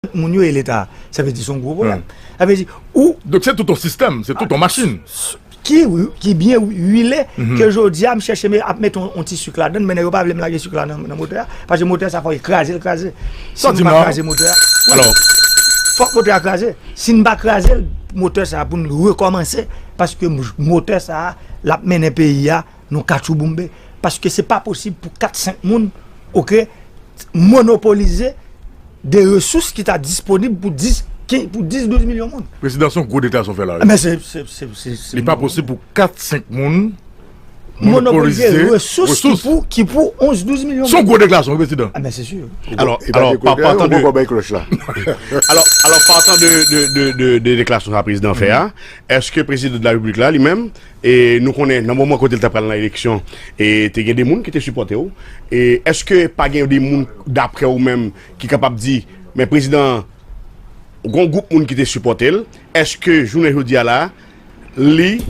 Tout moun yo e leta. Sa vle di son gwo pwoblèm. Sa vle di ou. Donk se tout on sistèm, se tout on machin. Ki ki byen wile ke jodi a m chèche ap mete on ti suk ladann mennen yo pa vle m lage suk la nan motè a. Pase motè sa fò e kraze l kraze. Sa w di m la. Fòk motè a kraze. Si n pa kraze l motè sa pou n rekòmanse paske motè sa l ap mennen peyi a. Nou katchouboumbe paske se pa posib pou 4, 5 moun ok monopolize de resous ki ta disponib pou 10, 12 milyon moun. Prezidan son gwo deklarasyon w fè la wi. Men se, se, se, se, se. Li pa posib pou 4, 5 moun monopolize resous ki pou, ki pou 11, 12 milyon moun. Son gwo deklarasyon wi prezidan. Men se si. Alò, alò, pa patan de. Ou poko bay kloch la. Alò, alò, pa patan de, de, de, de deklarasyon sa prezidan fè a, eske prezidan de la repiblik la li menm. E nou konnen nan moman kote li ta pral nan eleksyon e te gen de moun ki te sipòte w. E eske pa gen de moun daprè ou menm ki kapab di men prezidan an gon gwoup moun ki te sipòte l. Eske jounen jodi a la li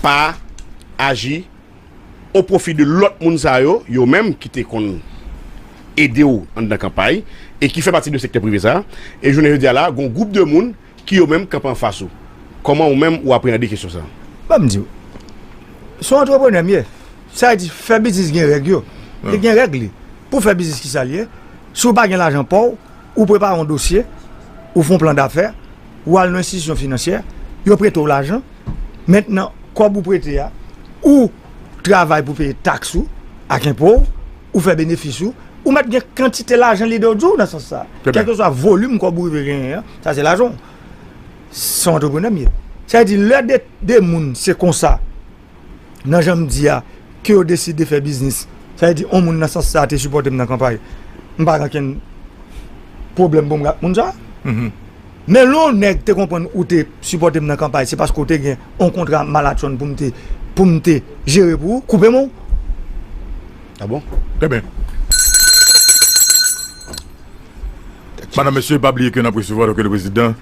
pa aji o pwofi de lòt moun sa yo, yo menm ki te konn ede w anndan kanpay e ki fè pati de sektè prive sa. E jounen jodi a la gon gwoup de moun. Ki yo menm k ap anfas ou? Kòman ou menm ou apreande kesyon sa? Ban m di w. Se yon antreprenè m ye. Sa vle di fè biznis gen règ yo. Li gen règ li. Pou w fè biznis ki sa l ye? Si w pa gen lajan pa w, ou prepare yon dosye, ou fè yon plan dafè, ou al nan yon enstitisyon finansyè, yo prete w lajan. Mentnan kòb ou prete a, ou travay pou w peye taks ou ak enpo w, ou fè benefis ou, ou mèt gen kantite lajan lide w di w nan sans sa. Kèlkeswa volim kòb ou rive genyen an. Sa se lajan w. Se yon antreprenè m ye. Sa vle di lè de moun se konsa nan jan m di a ke yo deside fè biznis. Sa vle di yon moun nan sans sa te sipòte m nan kanpay. M pa gen okenn pwoblèm pou m gen ak moun sa. Men lè yon nèg te konprann ou te sipòte m nan kanpay se paske ou te gen yon kontra malatchonn pou m te pou m te jere pou ou, koupe men w. Abon? Trè byen. Madam mesye pa bliye ke nap resevwa doke le prezidan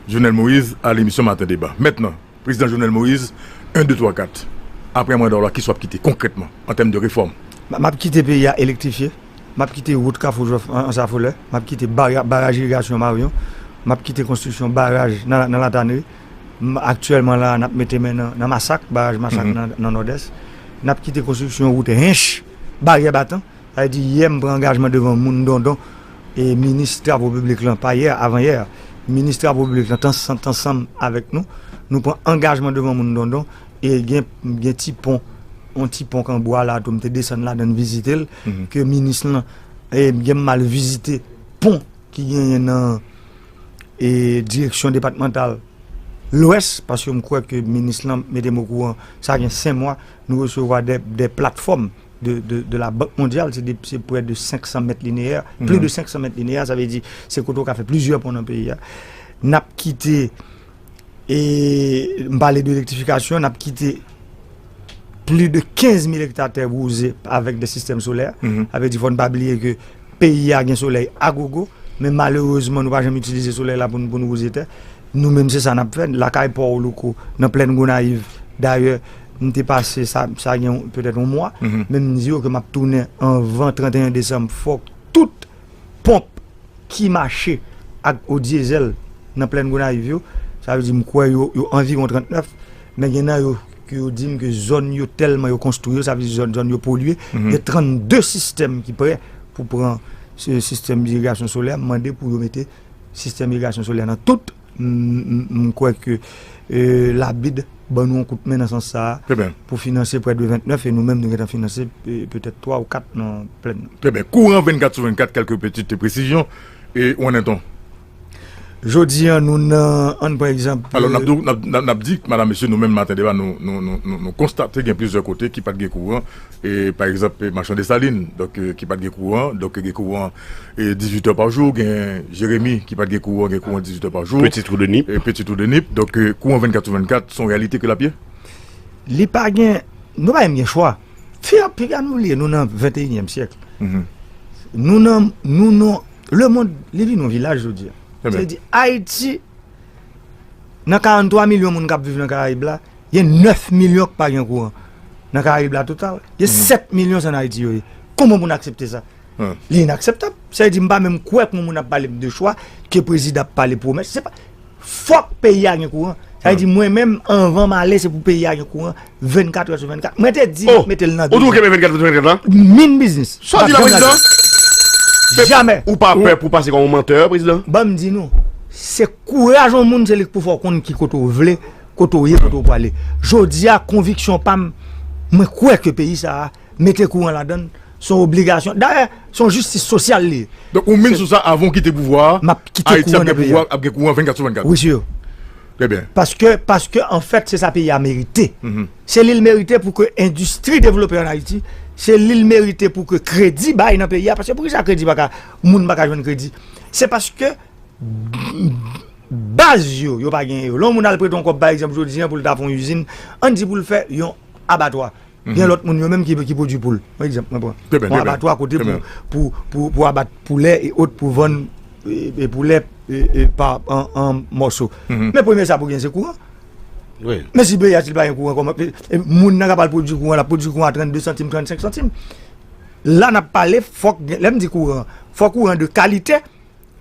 Jovenel Moïse a lemisyon maten deba mentnan prezidan Jovenel Moïse 1 2 3 4 aprè manda w la kisa wap kite konkrètman an tèm de refòm? Map kite peyi a elektrifye, map kite wout kafou jwèf ansafolè, map kite baraj irigasyon maryon, map kite konstriksyon baraj nan latanri, aktyèlman la nap mete men nan masak baraj masak nan nòdès, nap kite konstriksyon wout hinche baryè batan Li di, Yè m pran angajman devan moun Dondon e minis travo piblik lan, pa yè, avanyè, minis travo piblik lan t ansanm avèk nou. Nou pran angajman devan moun Dondon e gen ti pon, yon ti pon k an bwa la tou m te desann ladan l vizite l ke minis lan e gen m al vizite pon ki genyen nan direksyon depatmantal Lwès paske m kwè ke minis lan mete m okouran sa gen 5 mwa nou resevwa 2 platfòm. de la Bank Mondyal, se prè de 500 mèt lineyè, pli de 500 mèt lineyè, sa vle di se kote ou ka fè plizyè pon nan peyi a. N ap kite, e m pale de elektrifikasyon, n ap kite pli de 15 mil ekta tè bwouze avèk de sistèm solè, sa vle di fò n pa bliye ke Peyi a gen solèy agogo, men malerezman nou pa janm itilize solèy la pou nou pou nou wouze tè. Nou menm se sa n ap fè lakay pa w Louko, nan plenn Gonayiv. Dayè, m te pase sa sa gen petèt yon mwa, men m di yo ke m ap tounen anvan 31 desanm. Fòk tout ponp ki mache ak eau diesel nan plenn Gonayiv yo, sa vle di m kwè yo yo anviwon 39, men gen nan yo, ke yo dim ke zòn yo tèlman yo konstwi yo sa vle di zòn yo polye gen 32 sistèm ki prè pou pran sistèm irigasyon solè m mande pou yo mete sistèm irigasyon solè nan tout m kwè ke labid ban nou yon kout men nan sans sa pou finanse prè de 29 e nou menm nou gen tan finanse petèt 3 ou 4 nan plèn nan. Trè byen. Kouran 24 sou 24 kèlke pètite presizyon e ou an enton. Jodi an nou nan, an n pran egzanp. Alò n ap di madam mesye nou menm maten deba nou konstate gen plizyè kote ki pa t gen kouran e pa egzanp machan Desalin donk ki pa t gen kouran donk gen kouran dizuit è pa jou gen Jeremi ki pa t gen kouran gen kouran dizuit è pa jou Peti twou de Nip Peti twou de Nip donk kouran 24 sou 24 son reyalite ke l ap ye? Li pa gen nou pa menm gen chwa fè piga nou li nou nan venteyinyèm syèk nou nan nou nan. Le mond li vin yon vilaj jodi a. Sa vle di Ayiti nan 43 milyon moun kap viv nan karayib la, gen 9 milyon ki pa gen kouran. Nan karayib la total, gen 7 milyon se nan Ayiti yo ye. Kouman pou n aksepte sa? Li inakseptab. Sa vle di m pa menm kwè ke yon moun ap pale m de chwa, ke prezidan ap pale pwomès. Fòk peyi a gen kouran. Sa vle di mwen menm anvan m ale se pou peyi a gen kouran 24 heures sur 24. Mwen te di map mete l nan 12 heures. Ou toujou kenbe 24 heures sur 24 lan? Min biznis. Sa w di la prezidan? Jamè. Ou pa pè pou pase kòm yon mantè prezidan? Ban m di nou. Se kouraj yon moun se li k pou fè w konn ki kote w vle, kote w ye, kote w prale. Jodi a konviksyon pa m mwen kwè ke peyi sa a. Mete kouran ladann se yon obligasyon. Dayè, se yon jistis sosyal li ye. Donk ou minn sou sa avan w kite pouvwa a, Ayiti ap gen pouvwa, ap gen kouran 24 sou 24? Wi sir. Trè byen. Paske, paske anfèt se sa peyi a merite. Se li l merite pou ke endistri devlope an Ayiti, se li l merite pou ke kredi bay nan peyi a. Paske pou ki sa kredi pa ka, moun pa ka jwenn kredi? Se paske baz yo, yo pa genyen yo. Lè yon moun al prete yon kòb pa egzanp jodi an pou l ta fè yon izin, ann di pou l fè yon abatwa. Gen lòt moun yo menm ki pwodui poul. Yon egzanp mwen pran. Trè byen, trè byen. Yon abatwa kote pou, pou, pou abat poulè e ot pou vann poulè pa an mòso. Men premye sa pou gen se kouran. Wi. Men si peyi a si l pa gen kouran kòman e moun nan k ap al pwodui kouran l ap pwodui kouran a 32 santim, 35 santim. La n ap pale fòk gen, lè m di kouran, fòk kouran de kalite.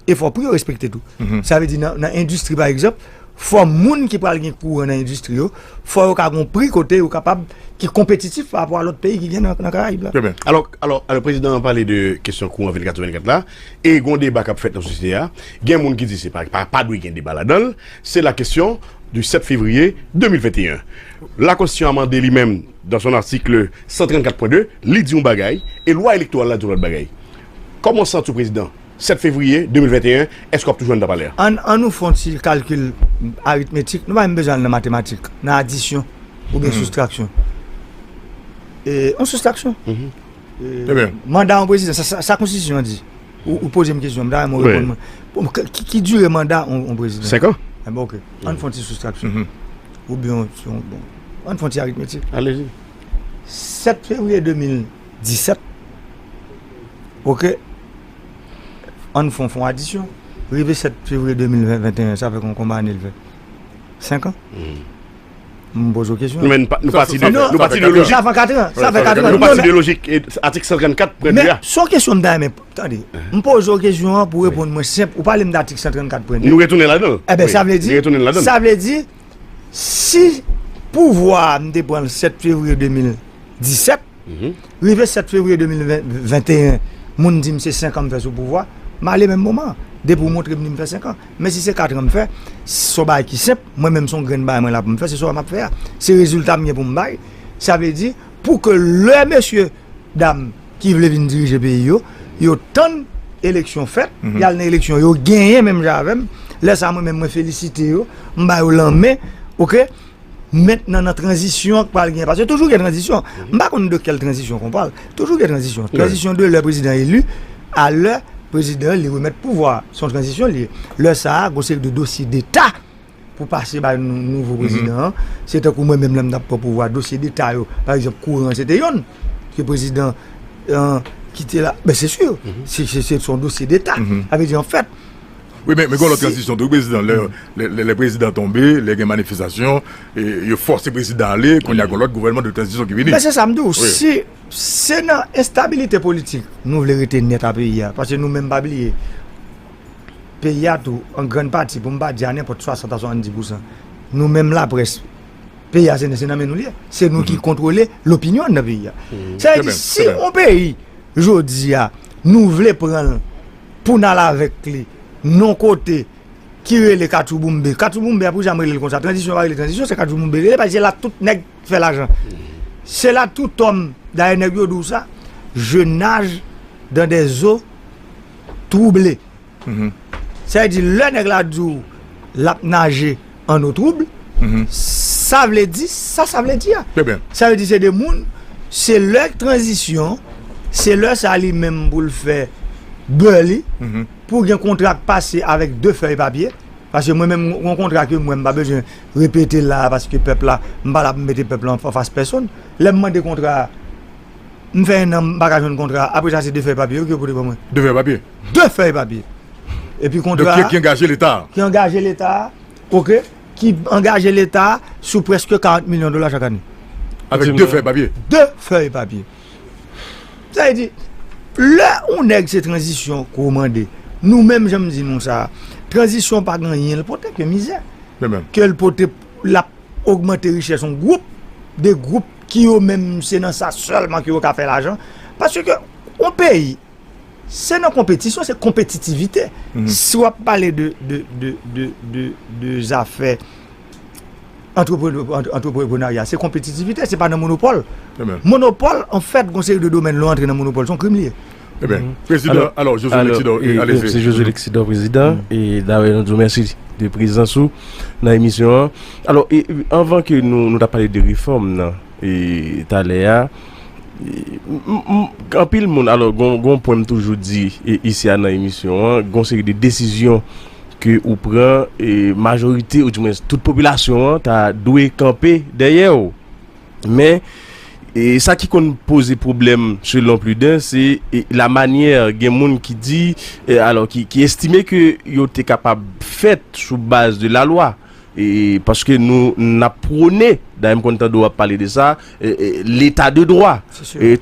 e fò pri yo respekte tou. Sa vle di nan endistri pa egzanp, fò moun ki pral gen kouran nan endistri yo, fò yo ka gon pri kote yo kapab ki konpetitif pa rapò a lòt peyi ki gen nan Karayib la. Trè byen. Alò, alò, alò prezidan an pale de kesyon kouran 24 sou 24 la e gon deba k ap fèt nan sosyete a. Gen moun ki di se pa, pa dwe gen deba ladan l. Se la kesyon di 7 fevriye 2021. Lakonstitisyon amande li menm dan son article 134 pwen 2, li di yon bagay e lwa elektoral la di yon lòt bagay. Kòman w santi w prezidan, 7 fevriye 2021, èske w ap toujou anndan palè a? An nou fè yon ti kalkil aritmetik, nou pa menm bezwen al nan matematik, nan adisyon oubyen soustraksyon. Yon soustraksyon. Manda yon prezidan, sa konstitisyon an di? Ou poze m kesyon, m ta renmen w reponn mwen. Ki dire manda yon prezidan? 5 an. Enben ok, an nou fè yon ti soustraksyon. Oubyen, an nou fè yon ti aritmetik. Alezi. 7 fevriye 2000. 17 ok ann fon fon adisyon rive 7 fevriye 2021 sa fè kon konba ane l fè 5 an m poze w kesyon men nou pati de lojik sa fè 4 an sa fè 4 an nou pati de lojik atik 134 premye men son kesyon m ta renmen tande m poze w kesyon an pou w reponn mwen senp ou pale m de atik 134 premye nou retounen ladan l e ben sa vle di sa vle di si pouvwa a m te pran l 7 fevriye 2017, rive 7 fevriye 2021, moun di m se 5 an m fè sou pouvwa, m ale menm moman an, depi ou montre m di m fè 5 an. Men si se 4 an m fè, se yon bagay ki senp, mwen menm se yon grenn bagay mwen la pou m fè, se sa m ap fè a, se rezilta m gen pou m bay, sa vle di pou ke lè mesye dam. ki vle vin dirije peyi yo, yo tann eleksyon fèt, y al nan eleksyon, yo genyen menm jan avè m, lè sa mwen menm mwen felisite yo, m ba yo lanmen, ok, mentnan nan tranzisyon k pral genyen, paske toujou gen tranzisyon, m pa konn de kèl tranzisyon kon pale, toujou gen tranzisyon, tranzisyon de lè prezidan eli a lè prezidan li remèt pouvwa a, s on tranzisyon li ye, lè sa a, gwo seri de dosye deta. pou pase bay nouvo prezidan an, se tankou mwen menm lè m t ap pran pouvwa a, dosye deta yo, pa egzanp kouran an se te youn ke prezidan an ki te la, men se si, se son dosye deta, sa vle di an fèt. Wi men gen lòt tranzisyon tou prezidan, lè prezidan tonbe, lè gen manifestasyon, yo fòse prezidan ale, kounye a gen lòt gouvènman de tranzisyon ki vini. Men se sa m di w, si se nan enstabilite politik nou vle rete nèt a peyi a, paske nou menm pa bliye peyi a tou an grann pati pou m pa di a nenpòt 60 a 70 pousan nou menm laprès peyi a se nan men nou li ye se nou ki kontwole lopinyon nan peyi a sa vle di si yon peyi jodi a nou vle pran l pou n al avèk li non kote ki rele katchouboumbe katchouboumbe a pou kisa m rele l konsa tranzisyon pa rele tranzisyon se katchouboumbe li rele paske se la tout nèg fè lajan se la tout òm dayè nèg yo di w sa je naj dan dè zo trouble. Sa vle di lè nèg la di w lap naje an eau trouble, sa vle di sa sa vle di a. Sa vle di se 2 moun, se lè tranzisyon, se lè sa li menm pou l fè bè li, pou gen kontra k pase avèk 2 fèy papye, paske mwen menm gon kontra ke mwen m pa bezwen repete la a paske pèp la, m pa la pou m mete pèp la anfas pèsonn, lè m mande kontra a, M fè 1 an m paka jwenn kontra a, apre sa se 2 fèy papye yo ke yo pote ban mwen. 2 fèy papye? 2 fèy papye! Epi kontra a. Donk ki angaje leta a. Ki angaje leta a, ok, ki angaje leta a sou prèske 40 milyon dola chak ane. Avèk 2 fèy papye? 2 fèy papye. Sa vle di, lè yon nèg se tranzisyon ke w mande, nou menm jan m di nou sa a, tranzisyon pa gen anyen l pote ke mizè. Ke l pote, l ap ogmante richès yon gwoup, 2 gwoup. ki yo menm se nan sa sèlman ke yo ka fè lajan, paske ke yon peyi se nan konpetisyon, se konpetitivite, si wap pale de de de de de de zafè antrepre antreprenarya se konpetitivite se pa nan monopòl, monopòl an fèt gon seri de domèn lè w antre nan monopòl son krim li ye. Ebyen, prezidan, alò, Josué Lexidor, e alezi. Mèsi Josué Lexidor, prezidan, e dayè nou di w mèsi de prezans ou nan emisyon an. Alò, e anvan ke nou, nou ta pale de refòm nan, e talè a, anpil moun, alò, gon, gon pwen m toujou di, e isi a nan emisyon an, gon seri de desizyon ke ou pran, e majorite, ou di mwens, tout popilasyon an ta dwe kanpe dèyè w. Men, sa ki konn poze pwoblèm selon pli den, se la manyè gen moun ki di, alò ki estime ke yo te kapab fèt sou baz de la lwa. Paske nou n ap pwone, dayè m konn tande w ap pale de sa, leta de dwa.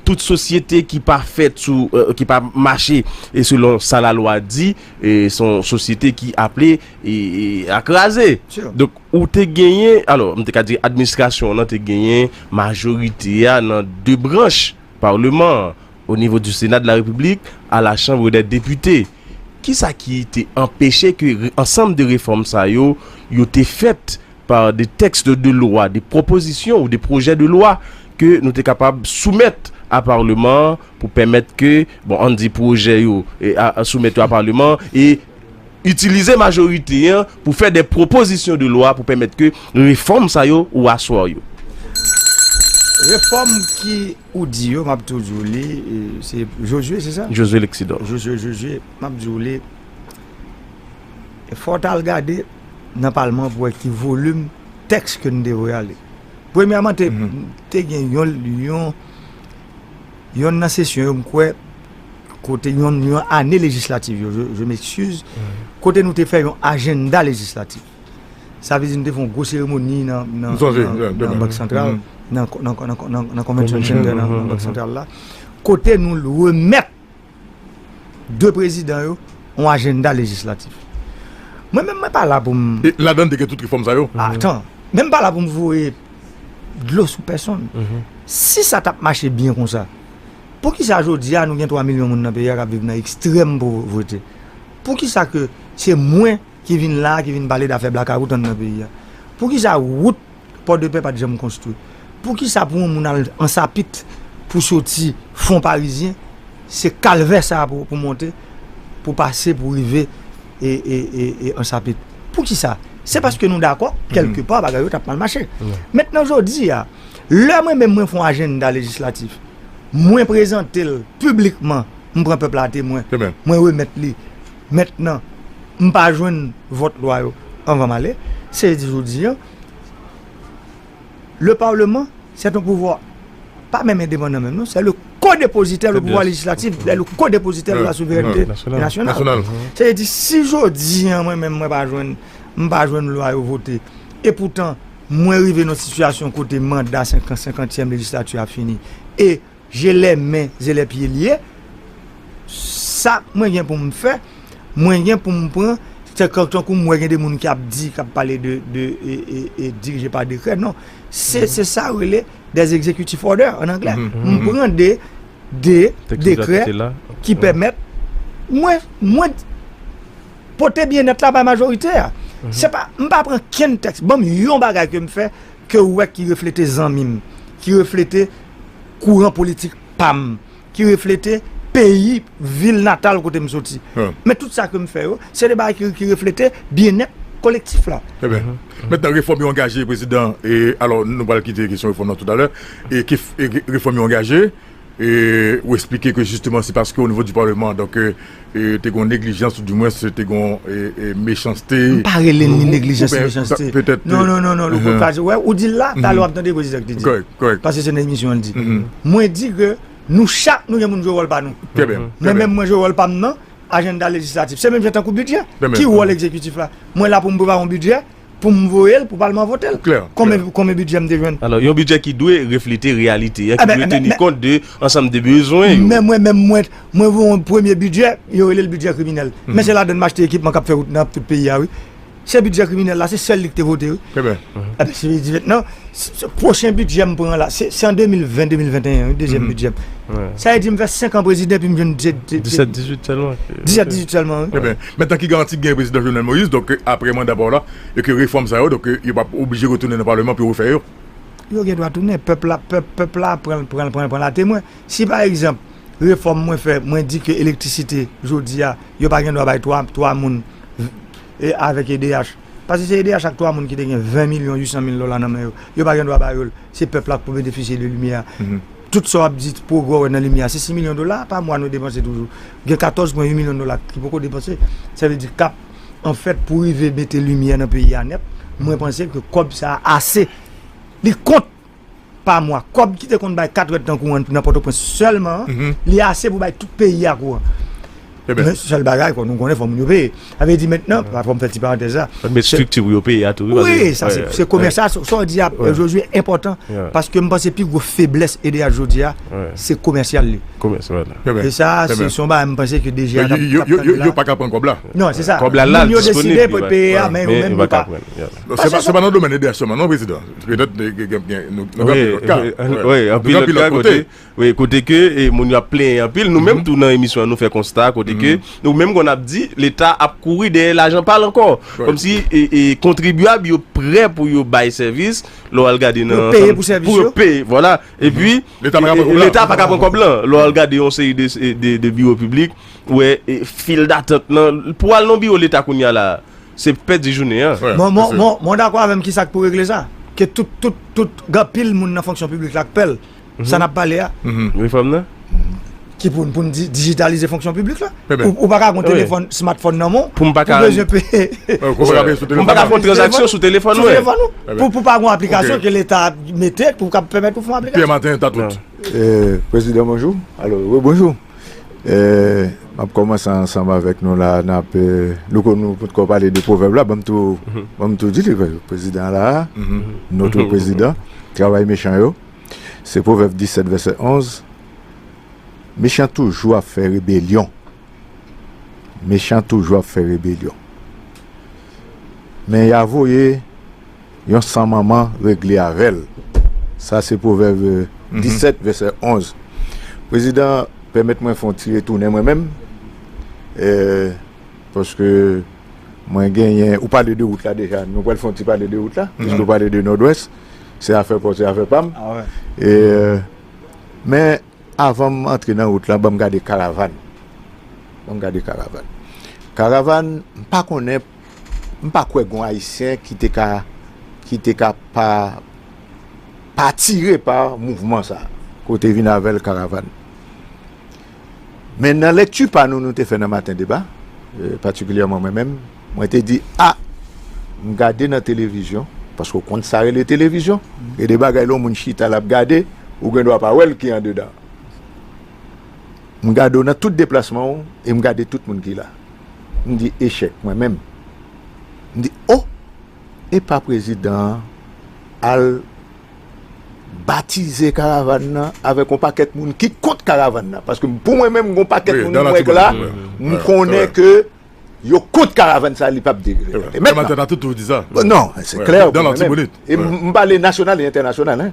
Tout sosyete ki pa fèt sou, ki pa mache selon sa la lwa di, son sosyete ki aple. a kraze. Donk ou te genyen, alò m te ka di administrasyon w nan te genyen majorite a nan 2 branch parleman an, o nivo di sena de la repiblik, a la chanbre dè depite. Kisa ki te anpeche ke ansanm de refòm sa yo, yo te fèt pa de tèks de lwa, de pwopozisyon ou de pwojè de lwa ke nou te kapab soumèt a parleman an pou pèmèt ke, bon an n di pwojè yo, soumèt yo a parleman an e Itilize majorite an pou fè de pwopozisyon de lwa pou pèmèt ke refòm sa yo ou aswa yo. Refòm ki ou di yo, m ap tou di w li, se Josue, se sa? Josue Lexidor. Josue, Josue, m ap di w li, fò w t al gade nan palman an pou wè ki volim tèks ke nou te voye ale. Premyèman, te gen yon, yon nan sesyon yo m kwè. kote yon ane lejislatif yo, je m'excuse, kote nou te fè yon ajenda lejislatif. Sa vle di nou te fè yon gwo seremoni nan Bank Santral, nan Convention Center nan Bank Santral la, kote nou remèt 2 prezidan yo yon ajenda lejislatif. Mwen menm mwen pa la pou m... E ladan l te gen tout refòm sa yo? Atan, mwen m pa la pou m voye dlo sou pèsonn. Si sa t ap mache byen konsa, Poukisa jodi a nou gen 3 milyon moun nan peyi a kap viv nan ekstrèm povrete? Poukisa ke se mwen ki vin la a ki vin pale dafè blakawout anndan peyi a? Poukisa wout Pòdepè pat janm konstwi? Poukisa pou yon moun al Ansapit pou soti Fonparizyen se kalvè sa a pou monte pou pase pou rive Ansapit? Poukisa? Se paske nou dakò kèlke pa bagay yo tap mal mache. Mentnan jodi a. Lè mwen menm mwen fon ajenda lejislatif, mwen prezante l piblikman, m pran pèp la temwen, mwen remèt li mèt nan, m pa jwenn vòt lwa yo anvan m ale, se di jodi an, le parlement c'est un pouvoir pa menm endepandan menm non, c'est le co-depositaire, le pouvoir lejislatif est le co-depositaire de la souveraineté nationale. Se vle di si jodi an mwen menm mwen pa jwenn, m pa jwenn lwa yo vote, e poutan. Mwen rive nan yon sitiyasyon kote manda senkantyèm lejislati a fini e jelè men jelè pye li ye. Sa mwen gen pou m fè, mwen gen pou m pran, se tankou m wè gen de moun ki ap di, k ap pale de dirije pa dekrè. Non, se sa yo rele des executive order an anglè. M pran de dekrè ki pèmèt mwen. Pote byennèt la bay majorite a. Se pa, m pa pran kenn tèks, ban m yon bagay ke m fè, ke ou wè ki reflete zanmi m, ki reflete kouran politik pa m, ki reflete peyi, vil natal kote m soti. Men tout sa ke m fè yo, se de bagay ki reflete byennèt kolektif la. Trè byen. Mentnan refòm yo angaje, Prezidan, e alò nou pral kite kesyon refòm nan toutalè, e ke refòm yo angaje, ou esplike ke jisteman se paske o nivo di paleman donk te gon neglijans ou di mwens te gon mechanste. M pa rele li neglijans ni mechanste. Non, non, non, non, Louko, pa di, wè, ou di l la, talè w ap tande prezidan ki te di. Kòrèk, kòrèk. Pase se nan emisyon l di. Mwen di ke nou chak nou gen pou nou jwe wòl pa nou. Trè byen. Mwen menm mwen jwe wòl pa m nan ajennda lejislatif. Se menm jan tankou bidjè. Ki wòl egzekitif la? Mwen la pou m prepare yon bidjè. Pou m voye l pou palman vote l. Klè. Konbyen bidjè m te jwenn? Alò, yon bidjè ki dwe reflete reyalite an, ki dwe teni kont de ansanm de bezwen yo. Men mwen menm, mwen voye yon premye bidjè, yo rele l bidjè kriminèl. Men se ladann m achte ekipman k ap fè wout nan tout peyi a wi. Se bidjè kriminèl la, se sèl li ki te vote wi. Trè byen. Ebyen, se li ki di mètnan. Pwochen bidjè m pran la, se an 2020, 2021 wi, dezyèm bidjè m. Sa vle di m fè 5 an prezidan epi m jwenn 17, 18 sèlman. 17, 18 sèlman wi. Eben, men tan ki garanti k gen prezidan Jovenel Moïse, donk aprè manda pa w la, e ke refòm sa yo, donk yo p ap oblije retounen nan Paleman pou yo refè yo? Yo gen dwa tounen. Pèp la, pèp, pèp la ap pran l, pran l, pran l, pran l atemwen. Si pa egzanp, refòm mwen fè, mwen di ke elektrisite jodi a, yo pa gen dwa bay 3, 3 moun avèk edh. Paske se edh ak 3 moun ki te gen 20 milyon 800 mil dola nan men yo, yo pa gen dwa ba yo l, se pèp la k pou benefisye de limyè a. Tout sa w ap di pwogrè w wè nan limyè a, se 6 milyon dola pa mwa nou depanse toujou. Gen 14 pwen 8 milyon dola ki poko depanse, sa vle di k ap an fèt pou rive mete limyè nan peyi a nèt, mwen panse ke kòb sa a ase, li kont. pa mwa. Kòb ki te konn bay 4 rad nan kouran nan Pòtoprens sèlman an, li ase pou bay tout peyi a kouran. Men sèl bagay nou konnen fò moun yo peye. Sa vle di mentnan, fò m fè ti parantèz la. Fò n met estrikti pou yo peye a tou. Wi, sa se komès la. Sa w di a Jozye enpòtan paske m panse pi gwo feblès edh jodi a se komèsyal li. Komès wè la. E sa se son bagay m panse ke DG a t ap tann la. Men yo pa ka pran kòb la. Non se sa. Kòb la la disponib. Moun yo deside pou yo peye a men yo menm yo pa. Se pa nan domèn edh sèlman non prezidan. Petèt nou gen gen gen nou gen anpil lòt ka. Wi, anpil lòt ka kote. Wi, kote ke moun yo ap plenyen anpil. Nou menm tou nan emisyon an nou fè konsta kote ke nou menm konn ap di leta ap kouri dèyè lajan pa l ankò. Kòm si kontribyab yo prè pou yo bay sèvis lè w al gade nan. Pou yo peye pou sèvis yo. Pou yo peye, vwala. E pi leta pa ka pran kòb la. Lè w al gade yon seri de biwo piblik, ou wè fil datant nan. Pou w al nan biwo leta kounya la. Se pèdi jounen an. Mwen dakò avèm kisa k pou regle sa ke tout tout tout gen anpil moun nan fonksyon piblik la k pè l sa nap pale a Refòm nan? ki pou pou n di dijitalize fonksyon piblik la ou paka gon telefòn smartphone nan men w pou m paka pou m paka fon tranzaksyon sou telefòn mwen pou pa gon aplikasyon ke leta mete pou kab pèmèt ou fon aplikasyon Pyè Maten Tatout Prezidan bonjou alo rebonjou M ap kòmanse ansanm avèk nou la a, n ap, Louko nou potko pale de pwovèb la, ban m tou, ban m tou di li, prezidan la a, notre prezidan, travay mechan yo, se pwovèb 17 vèsè 11, mechan toujou ap fè rebelyon, mechan toujou ap fè rebelyon, men y a voye. Yon san manman regle avè l. Sa se Pwovèb 17 vèsè 11. Prezidan, pèmèt mwen fè yon ti retounen mwen menm, paske mwen genyen, ou pale de wout la deja, nou pral fè yon ti pale de wout la, piske ou pale de Nòdwès, se afè pa w, se afè pa m. Men, avan m antre nan wout la, ban m gade karavàn. Ban m gade karavàn. Karavàn, m pa konnen. M pa kwè gon ayisyen ki te ka ki te ka pa pa atire pa mouvman sa a. Ke w te vin avè l Karavàn. Men nan lekti pa nou nou te fè nan Maten deba, patikilyèman mwen menm, mwen te di a m gade nan televizyon, paske w konn sa rele televizyon, gen de bagay lè yon moun chita l ap gade ou gen dwa pa wè l ki andedan. M gade w nan tout deplasman w e m gade tout moun ki la. M di echèk mwen menm. M di o! Epa prezidan an al batize karavann nan avèk yon pakèt moun ki kont karavann nan. Paske pou mwen menm gen yon pakèt moun m wè k la, m konnen ke yo kont karavann sa a li pap degrade. E mèt la. Non, se klè pou mwen menm. E m pale nasyonal e entènasyonal.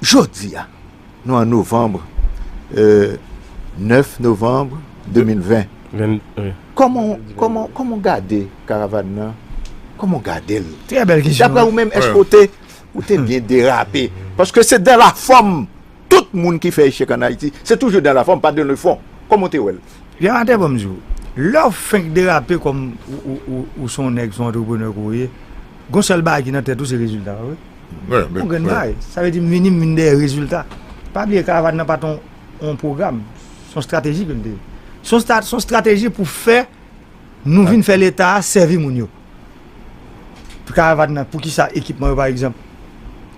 Jodi a. Nou an novanb, 9 novanb 2020, kòman ou gade karavan nan, kòman ou gade l? Daprè ou menm, èske ou te byen derape? Paske se dan la fòm, tout moun ki fè echèk an Ayiti, se toujou dan la fòm, pa dan le fon. Kòman ou te wè l? Yon atè banm di w, lè ou fenk derape kòm ou se yon nèg, se yon antreprenè ke w ye, gen yon sèl bagay ki nan tèt ou, se rezilta w wi. Yon grenn bagay. Sa vle di m vini, m vini dèyè rezilta. Pa bliye karavàn nan pa t yon pwogram, se yon estrateji ke m te. Se yon estrateji pou fè nou vin fè Leta a sèvi moun yo. Pou karavàn nan, poukisa ekipman yo pa egzanp?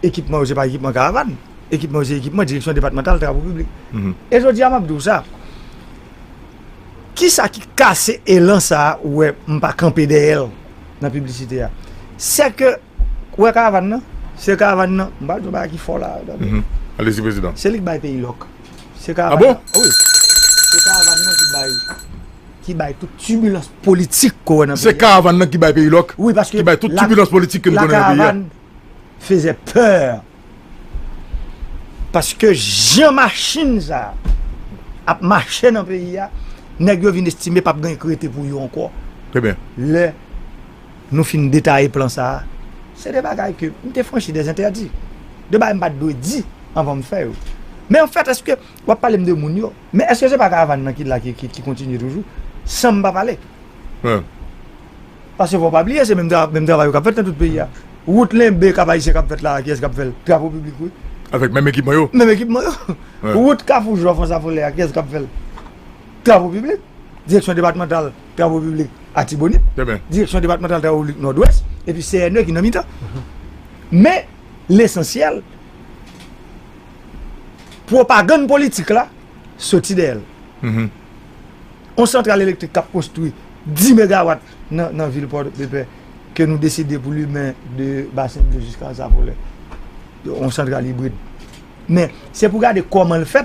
Ekipman yo se pa ekipman karavàn. Ekipman yo se ekipman Direksyon depatmantal Travo Piblik. E jodi a m ap di w sa. Kisa ki kase elan sa a ou wè m pa kanpe dèyè l nan piblisite a? Sè ke ou wè karavan nan? Se karavan nan, m pral di yon bagay ki fò la a, tande. Alezi prezidan. Se li ki bay peyi lòk. Se karavan nan. A bon? Wi. Se karavan nan ki bay, ki bay tout tibilans politik ke w wè nan peyi a. Se karavan nan ki bay peyi lòk? Wi paske. Ki bay tout tibilans politik ke nou konnen nan peyi a. La caravane faisait peur. Paske jan machin sa ap mache nan peyi a, nèg yo vin estime pap gen kredi pou yo ankò. Trèbyen. Lè nou fin detaye plan sa, se de bagay ke m te franchi de zentèdi. De bagay m pat dwe di anvan m fè yo. Men anfèt eske w ap pale m de moun yo, men eske se pa karavan nan ki la ki kontinye toujou san m pa pale? Paske fò pa bliye se menm travay yo k ap fèt nan tout peyi a. Wout Lenbe Kap Ayisyen k ap fèt la a, kiyès k ap fè l? Travo Piblik wi. Avèk menm ekipman yo? Menm ekipman yo. Wout Kafou Jwèf Ansafolè a, kiyès k ap fè l? Travo Piblik. Direksyon Depatmantal Travo Piblik Atibonit. Direksyon Depatmantal Travo Piblik Nòdwès. Epi CNE ki nan mitan. Men, lesansyèl, pwopagann politik la soti dèyè l. yon santral elektrik kap konstwi 10 megawat nan vil pòdepè ke nou deside pou limen de basen dlo jiska zavolè yon santral ibrid men se pou gade kòman l fè